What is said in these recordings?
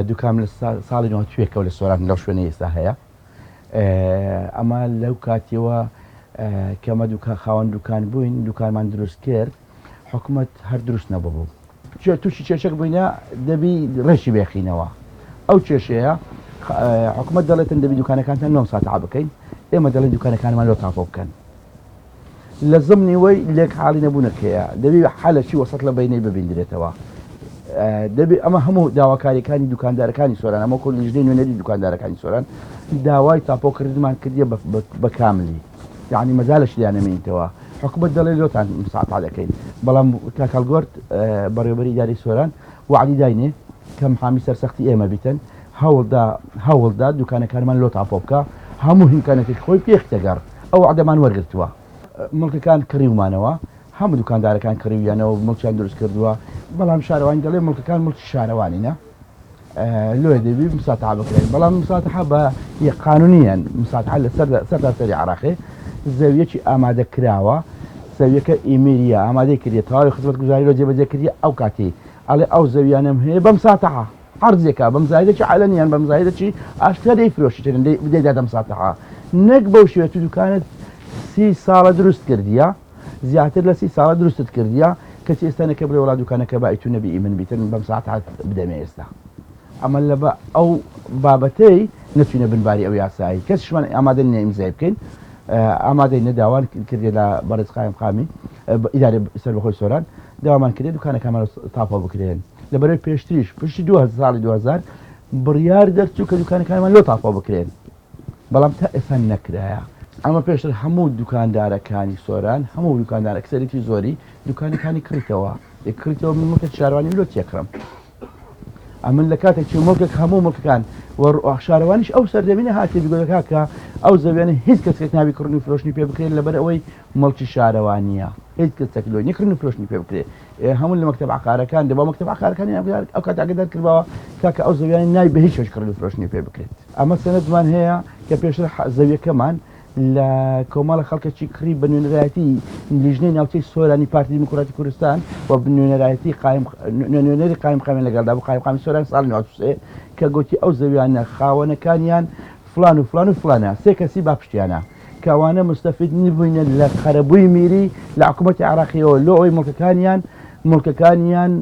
دوکام لە ساڵی نوتوێکەوە لە سۆران لەو شوێنە ئێستا هەیە ئەمە لەو کاتیەوە کەمە دوکان خاوەن دوکان بووین دوکانمان دروست کرد حکوومەت هەر دروست نەبوو تووشی چێشک بووینە دەبی ڕێکی بێخینەوە ئەو کێشەیە حکوومەت دەڵێتن دەبی دوکانەکانتان نۆ ساعت بکەین ئێمە دەڵێن دوکانەکانمان لۆ تاپۆ بکەن لە زمنی وەی لێک حاڵی نەبوونە کێە دەبی حالەکی وەسەت لە بینەی ببیندرێتەوە دەبی ئەمە هەموو داواکاریەکانی دوکاندارەکانی سۆران ئەمە کۆ لیژدەی نوێنەری دوکاندارەکانی سۆران داوای تاپۆکردمان کردیە بە کاملی یعنی مەزالش لیانەمینیتەوە حکومت دەڵێ لۆتان مساعتا دەکەین بەڵام تاکەڵگۆرت بەڕێوبەری داری سۆران وعدی داینێ کەم حامی سەرسەختی ئێمە بیتن هەوڵدا هەوڵدا دوکانەکانمان لۆ تاپۆ بکا هەموو هیمکانەتیش خۆی پێخیتە گەڕ ئەو وەعدەمان وەرگرتوە. مڵکەکان کڕیومانەوە هەموو دوکاندارەکان کڕیویانەوەو مڵکیان دروست کردوە بەڵام شارەوانی دەڵێ مڵکەکان مڵکی شارەوانینە لۆیە دەبی مساتحە بکرێن بەڵام مساتحە بە یە قانونیەن مساتحە لە سەر سەرتاسەری عراقێ زەویەکی ئامادە کراوە زەویەکە ئیمیریە ئامادەی کردیە تەواوی خزمەت گوزاری لۆ جێبەجێ کردیە ئەو کاتی ئەڵێ ئەو زەویانەم هەیە بە مساتحە عەرزێکا بەم زایدەکی عەلەن یان بەم زایدەکی ئاشکرا دەیفرۆشیتن دەی بدەی دە دەم ساتەها نەک بەو شێوە تو دوکانت سی ساڵە دروست کردیە زیاتر لە سی ساڵە دروستت کردیە کەچی ئێستا نەکە بڵێ وڵا دوکانەکە بای تو نەبی من بیتن بەم ساعت هات بدەمێ ئێستا ئەمە لە بە ئەو بابەتەی نەچوینە بنباری ئەو یاسایی کەسشمان ئامادە نیە ئیمزای بکەین ئامادەی نەداوان کردێ لە بەڕێز قایم قامی ئیدارە سەر بەخۆی سۆران داوامان کرێ دوکانەکەمان تاپۆ بکرێن لەبەرەی پێشتریش پشتی دو ساڵی دوهزار بڕیار دەرچوو کە دوکانەکانمان لۆ تاپۆ بکرێن بەڵام تا ئێستا نەکرایە ئەمە پێشتر هەموو دوکاندارەکانی سۆران هەموو دوکاندار ئەکسەرێتی زۆری دوکانەکانی کڕیتەوە یکڕیتەوە من مکە شاروانی لۆ تێکڕم ئەمن لە کاتێک چ مڵکێک هەموو مڵکەکان شارەوانیش ئەو سەردەمینە هاتی بگۆەکە کە ئەو زەوێنە هیچ کەسێک ناوی کڕنی فرۆشتنی پێ بکرێت لەبەر ئەوەی مڵکی شارەوانیە هیچ کەس تەکلۆی نکردن و فرۆشتنی پێ بکرێت هەموو لە مەکتەب عەقارەکان دەبا مەکتەب عەقارەکانی ئەمجار ئەو کات ئاگدار کردباوە کاکە ئەو زەویانە نای بە هیچ وەش کڕن و فرۆشتنی پێ بکرێت ئەمە سەنەدمان هەیە کە پێشتر حە- زەویەکەمان لە کۆمەڵە خەڵکەکی کڕی بە نوێنەرایەتی لیژنەی ناوچەی سۆرانی پارتی دیموکراتی کوردستان و نوێنەرایەتی قایم نوێ- نوێنەری قایم قامی لەگەڵدا بوو قایم قامی سۆران ساڵی 93 کە گوتی ئەو زەویانە خاوەنەکانیان فڵان و فڵان و فڵانە سێ کەسی با پشتیانە کە ئەوانە مستەفید نبووینە لە قەرەبووی میری لە حکوومەتی عراقیەوە لۆ ئەوی مڵکەکانیان مڵکەکانیان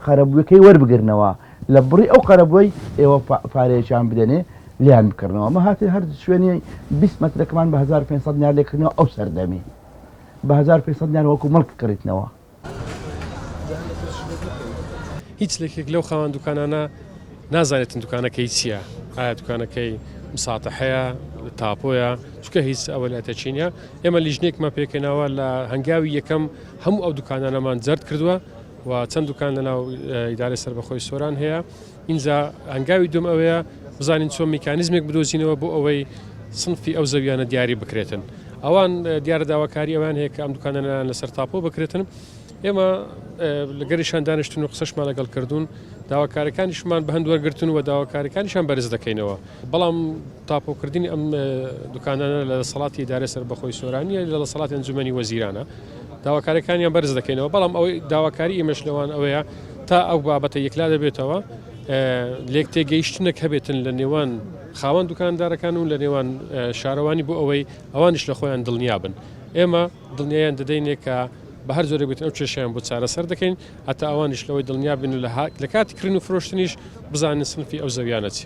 قەرەبووەکەی وەربگرنەوە لە بڕی ئەو قەرەبووی ئێوە پارەیەکیان بدەنێ لیان بکردنەوە مە هاتی هەر شوێنی 20 مترەکەمان بە 1500 نار لێکردنەوە ئەو سەردەمی بە 1500 نار وەکو مڵک کڕیتنەوە هیچ لەکێک لەو خاوەن دوکانانە نازانێتن دوکانەکەی چییە ئایا دوکانەکەی مساتەحەیە تاپۆیە چکە هیچ ئەوە لە تەچینە ئێمە لیژنێکمان پێکەناوە لە هەنگاوی یەکەم هەموو ئەو دوکانانەمان جرد کردووە و چەند دوکان لەناو ئیدارە سەر بەخۆی سۆران هەیە ئینجا هەنگاوی دووەم ئەوەیە بزانین چۆن میکانیزمێک بدۆزینەوە بۆ ئەوەی سنفی ئەو زەویانە دیاری بکرێتن ئەوان دیارە داواکاری ئەوان هەیە کە ئەم دوکانەنان لەسەر تاپۆ بکرێتن ئێمە لەگەریشان دانیشتن و قسەشمان لەگەڵ کردوون داواکارەکانیشمان بە هەند وەرگتن و داواکارەکانیشان بەرز دەکەینەوە بەڵام تاپۆکردنی ئەم دوکانانە لە دەسەڵاتی دارە سەر بەخۆی سۆرانیە لە دەسەڵاتی ئەنجومی وەزیرانە داواکاریەکانیان بەرز دەکەینەوە، بەڵام ئەوەی داواکاری ئێمەش لەوان ئەوەیە تا ئەو بابەتە یەکلا دەبێتەوە لێک تێگەیشتنەک هەبێتن لە نێوان خاوەن دوکاندارەکان و لە نێوان شارەوانی بۆ ئەوەی ئەوانش لە خۆیان دڵنیابن ئێمە دڵنیایان دەدەینێ کە بە هەر جۆرە بێت ئەو کێشیان بۆ چارەسەر دەکەین هەتا ئەوانش لەوەی دڵنیا بن لە هاک لە کاتی کرن و فرۆشتنیش بزانن سنفی ئەو زەویانە چی.